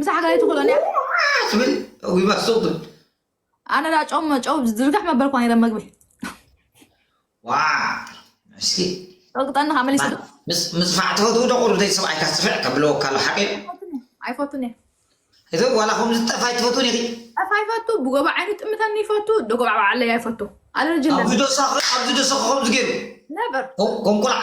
ምሳሕ ጋር ትኽእሎን እያ ትብል ዊባ ሱቅ ትብል ኣነ ዳ ጨው ጨው ዝርግሕ መበልኳ ነረ መግቢ ዋ እስኪ ጠቅጠኒ ካብ መሊስ ምፅፋዕ ትፈትው ዶ ቁርብ ደይ ሰብኣይካ ፅፍዕ ከብለወካ ኣሎ ሓቂ ኣይፈቱን እየ እዚ ዋላ ከምዚ ጠፋይ ትፈትውን ኢኺ ጠፋይ ይፈቱ ብጎባ ዓይኑ ጥምተኒ ይፈቱ ደጎባ ባዓለይ ኣይፈቱ ኣለርጂ ኣብዚ ዶሳ ኣብዚ ዶሳ ከምዚ ገይሩ ነበር ከም ቁልዓ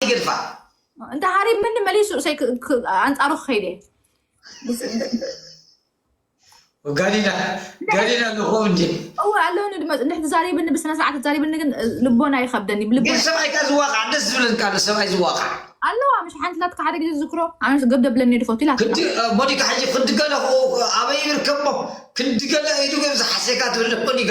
ይገድፋ እንተ ሃሪብ ምኒ መሊሱ እሰይ ክ- ክ- ኣንጻሩ ክኸይድ እየ ጋሊላ ጋሊላ ኣለኹ እንጂ እወ ኣለውኒ ድማ እንድሕ ትዛሪብኒ ብስነ ስርዓት ትዛሪብኒ ግን እ፣ ልቦና ይኸብደኒ ግን ብልቦና ሰብኣይ ካብ ዝዋቃዕ ደስ ዝብለኒ ካለ ሰብኣይ ዝዋቃዕ ኣለዋ ምሽ ሓንቲ ላትካ ሓደ ግዜ ዝዝክሮ ኣነስ ገብ ደብለኒ ድፈቱ ኢላ ክንዲ ሞኒካ ሕጂ ክንዲ ገለ ኣበይ ይርከቦ ክንዲ ገለ ኢዱ ገብ ዝሓሰካ ትብል ሞኒካ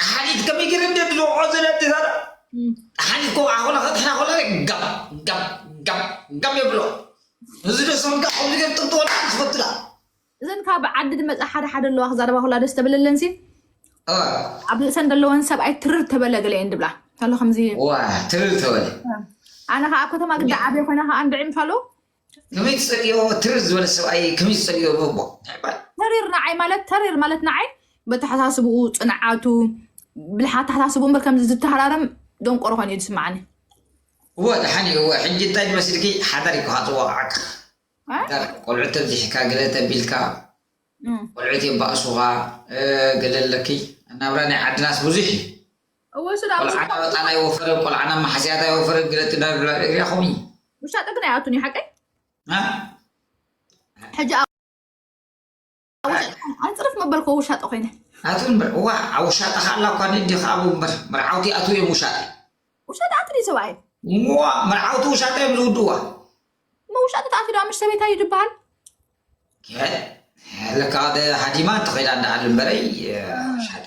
ጠሓኒት ከመይ ገይረ እንደ ድልውዖ ዘለቲ ዛዳ ጠሓኒት ኮ ኣኾነ ከጥሕና ኮለ ጋም ጋም ጋም ጋም የብሎ እዚ ደሰም ጋ ከምዚ ገር ጥንጥወላ ክፈትላ እዘን ካብ ዓዲ ድመፃ ሓደ ሓደ ኣለዋ ክዛረባ ኮላ ደስ ተብለለን ሲ ኣብ ርእሰን ዘለወን ሰብኣይ ትርር ተበለ ገለ እየን ድብላ እንታሎ ከምዚ ትርር ተበለ ኣነ ከዓ ከተማ ግዳ ዓብየ ኮይና ከዓ እንድዒ ምፋሉ ከመይ ትጸልዮ ትርር ዝበለ ሰብኣይ ከመይ ዝጸልዮ ንእቦ ንዕባል ተሪር ንዓይ ማለት ተሪር ማለት ንዓይ በተሓሳስብኡ ፅንዓቱ ብልሓት ተሓሳስቡ እምበር ከምዚ ዝተሃራረም ደንቆሮ ኮይኑ እዩ ዝስምዓኒ እወ ደሓን እዩ እወ ሕጂ እንታይ ትመስልኪ ሓዳር እዩ ክሃጥዎ ዓክ እ? ሓዳር ቆልዑት ተብዚሕካ ገለ ተቢልካ እም። ቆልዑት የባእሱኻ እ፣ ገለ ኣለኪ ናብራ ናይ ዓድናስ ብዙሕ እዩ እወ ሱድ ኣብኡ ቆልዓ ናብ ኣጣል ኣይወፈርን ቆልዓ ናብ ማሕስያት ኣይወፈርን ገለ ትዳር ሪኢኹም እዩ ውሻጠ ግን ኣይኣቱን እዩ ሓቀይ ሕጂ ኣይፅርፍ መበልኮ ውሻጠ ኮይነ ኣቱ እምበር እዋ ኣብ ውሻጠ ከዓ ኣላ እኳ ንእዲ ከዓ ኣብ እምበር መርዓውቲ ኣቱ እዮም ውሻጠ ውሻጠ ኣቱ ድዩ ሰብኣይ እዋ መርዓውቲ ውሻጠ እዮም ዝውድዋ መውሻጠ ተኣቱ ዶ ምሽ ሰበይታ እዩ ዝበሃል ለካ ሃዲማ እንተኸይዳ እንዳኣል እምበረይ ውሻጠ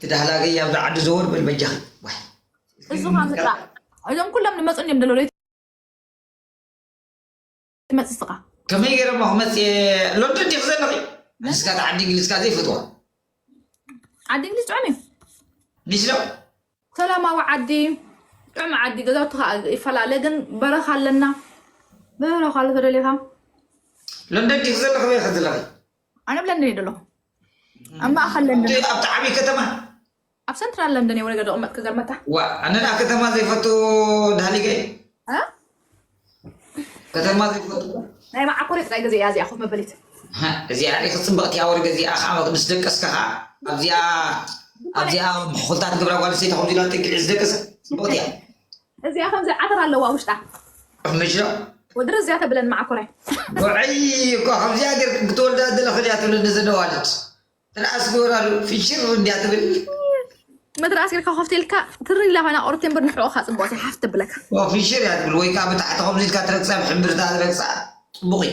ትዳህላገይ ኣብዛ ዓዲ ዘወር በል በጃኺ እሱ ምጣ እዞም ኩሎም ንመፁን እዮም ደሎ ትመፅእ ስኻ ከመይ ገይረ ሞ ክመፅ ሎንዶን ዲክ ዘለኺ ንስካ ቲ ዓዲ እንግሊዝካ ዘይፈትዋ ዓዲ እንግሊዝ ጥዑም እዩ ሚስሎ ሰላማዊ ዓዲ ጥዑም ዓዲ ገዛውቲ ከዓ ይፈላለ ግን በረኻ ኣለና በረኻ ኣሎ ተደሊኻ ሎንዶን ዲክ ዘለኺ ወይ ከ ዘለኺ ኣነ ኣብ ለንደን እየ ዘለኹ ኣብ ማእኸል ለንደን እንዴት ኣብቲ ዓብይ ከተማ ኣብ ሰንትራል ለንደን እየ ወረገ ደቕመጥ ክገርመካ ዋ ኣነ ደኣ ከተማ ዘይፈቱ ዳህሊገ እዩ እ? ከተማ ዘይፈቱ ናይ መዓኮር ጥራይ ግዜ እያ እዚኣ ኮፍ መበሊት ሃ፣ እዚኣ ሪኢኺ ፅብቕቲ እያ ወርገ እዚኣ ከዓ ምስ ደቀስካ ከዓ ኣብዚኣ ኣብዚኣ ምሕኹልታት ግብረ ጓል ሰይቲ ከምዚ ኢላ ጥግዒ ዝደቀሰ ፅብቕቲ እያ እዚኣ ከምዚ ዓተር ኣለዋ ውሽጣ። ምሸ። ወዲ ረዚያ ተብለን መዓኮራይ። ጉዐይ እኳ ከምዚኣ ጌርክን ክትወልዳ ዘለኽን እያ ትብለኒ እዛ ደዋልት። ትርኣስ ግበራሉ ፍሽር እንድያ ትብል። መትርኣስ ጌርካ ኮፍ ኢልካ ትሪ ኢላ ኮይና ቁርቲ እምበር ንሕቆኻ ጽብቕቲ ሓፍ ተብለካ። ፍሽር እያ ትብል ወይ ከኣ ብታሕቲ ከምዚ ኢልካ ትረግጻ ብሕምብርታ ረግጻ ጽቡቕ እዩ።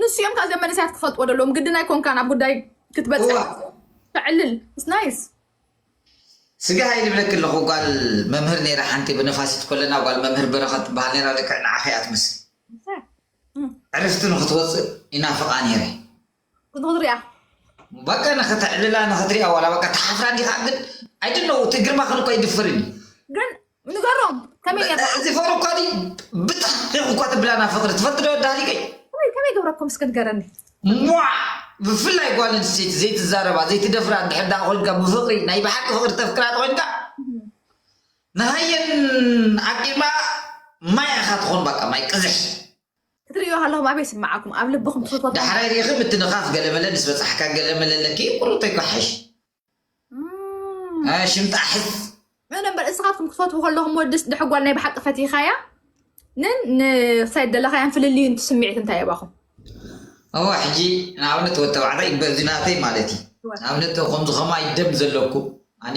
ንሱ እዮም ካብዚኦም መንእሰያት ክፈልጥዎ ደለዎም ግድን ኣይኮንካን ኣብ ጉዳይ ክትበፅሕ ተዕልል ናይስ ስጋ ሃይ ልብለኪ ኣለኹ ጓል መምህር ነይራ ሓንቲ ብነፋሲት ኮለና ጓል መምህር በረኸት ትበሃል ነይራ ልክዕ ንዓኺ እያ ትመስል ዕርፍቲ ንክትወፅእ ይናፍቓ ነይረ ክትሪኣ በቃ ንክትዕልላ ንክትሪኣ ዋላ በቃ ትሓፍራ ዲኻ ግን ኣይድነው እቲ ግርማኽን እኮ ኣይድፍርን እዩ ግን ንገሮም ከመይ ጌርካ እዚ ፎር እኳ ድዩ ብጣዕሚ እኳ ትብላና ፍቅሪ ትፈልጥ ዶ ዳሪገይ ከመይ ከመይ ገብረኩም እስከ ንገረኒ ሟዕ ብፍላይ ጓል ኣንስተይቲ ዘይትዛረባ ዘይትደፍራ እንድሕር ዳኣ ኮይንካ ብፍቅሪ ናይ ብሓቂ ፍቅሪ ተፍቅራ ተኮይንካ ንሃየን ዓቂባ ማይ ኢኻ ትኾን በቃ ማይ ቅዝሕ ክትርእዮ ከለኹም ኣበይ ይስምዓኩም? ኣብ ልብኹም ትፍትዎ ሰብ። ዳሕራይ ርኢኺ ምትንኻፍ ገለመለ ምስ በጻሕካ ገለመለ ኣለኪ ቁሩብ ተጓሓሕሽ ሽም ጣሕስ። እነ እምበር እስኻትኩም ክትፈትዉ ከለኹም ወድስ ድሕር ጓል ናይ ብሓቂ ፈቲኻያ ንን ንክሳይ ደለኻያን ፍልልዩ ንቲ ስምዒት እንታይ የባኹም እሞ ሕጂ ንኣብነት ወዲ ተባዕታይ በዚ ናተይ ማለት እዩ ንኣብነት ከምዚ ከማይ ደም ዘለኩ ኣነ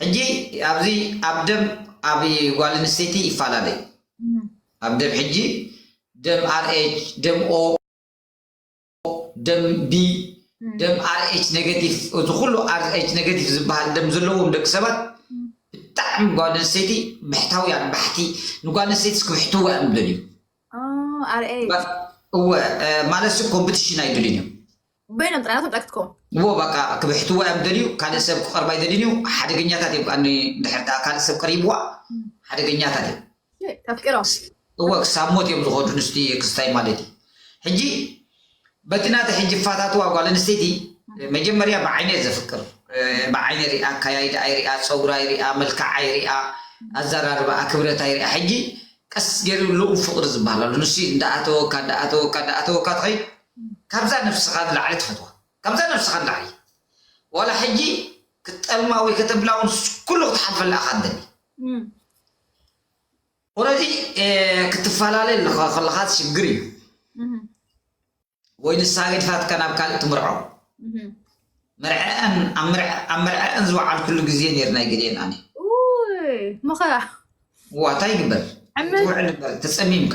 ሕጂ ኣብዚ ኣብ ደም ኣብ ጓል ኣንስተይቲ ይፈላለ እዩ ኣብ ደም ሕጂ ደም ኣርኤች ደም ኦ ደም ቢ ደም ኣርኤች ኔጋቲቭ እዚ ኩሉ ኣርኤች ኔጋቲቭ ዝበሃል ደም ዘለዎም ደቂ ሰባት ብጣዕሚ ጓል ኣንስተይቲ ብሕታውያን ባሕቲ ንጓል ኣንስተይቲ ክብሕትዋ እዮም ዝደልዩ ኣርኤች እወ ማለት ኮምፒቲሽን ኣይደልዩን እዮም በይኖም ጥራይ ናቶም ጥራይ ክትከውን። እዎ ባቃ ክብሕትዋ እዮም ዝደልዩ ካልእ ሰብ ክቀርባ ኣይደልዩን እዩ ሓደገኛታት እዮም ካኣ ድሕር ዳኣ ካልእ ሰብ ቀሪብዋ ሓደገኛታት እዮም። ተፍቅሮም። እወ ክሳብ ሞት እዮም ዝኸዱ ንስቲ ክስታይ ማለት እዩ ሕጂ በቲ ናቲ ሕጂ ክፋታትዋ ጓል ኣንስተይቲ መጀመርያ ብዓይኒ እየ ዘፍቅር ብዓይኒ ሪኣ ኣካያይዳኣ ይሪኣ ፀጉራ ይሪኣ መልክዓ ይሪኣ ኣዘራርባኣ ክብረታ ይሪኣ ሕጂ ቀስ ገይሩ ልኡም ፍቅሪ ዝበሃል ኣሎ ንሱ እዩ እንዳኣተወካ እንዳኣተወካ እንዳኣተወካ ትኸይድ ካብዛ ነብስኻ ንላዕሊ ትፈትዋ ካብዛ ነብስኻ ንላዕሊ ዋላ ሕጂ ክትጠልማ ወይ ከተብላ ውን ኩሉ ክትሓልፈላ ኢኻ ትደሊ ኦረዲ ክትፈላለ ኣለኻ ከለኻ ሽግር እዩ ወይ ንሳ ገድፋትካ ናብ ካልእ ትምርዖ መርዐአን ኣብ መርዐአን ዝወዓል ኩሉ ግዜ ነይር ናይ ገሌን ኣነ መኸራ ዋታ ይግበር ትውዕል እምበር ተፀሚምካ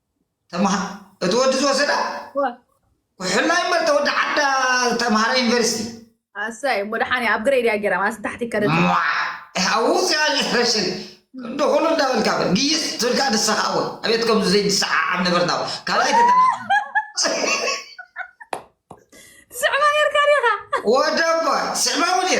ተማሃ እቲ ወዲ ዝወሰዳ ዋ፣ ኩሕላ እዩ እምበር ተወዲ ዓዳ ዝተምሃረ ዩኒቨርሲቲ ኣሰይ እሞ ደሓን እያ ኣብ ግሬድ እያ ጌራ ማለት ታሕቲ ከደት እያ ሟዕ ኣብኡ ዝያ ጀነሬሽን ክንዲ ኩሉ እንዳበልካ በል ግይስ ትብልካ ንስኻ እውን ኣቤት ከምዚ ዘይንሰዓዓብ ነበርና ካልኣይ ተተና ትስዕባ ኔርካ ዲኻ ወደባ ስዕባ እውን እየ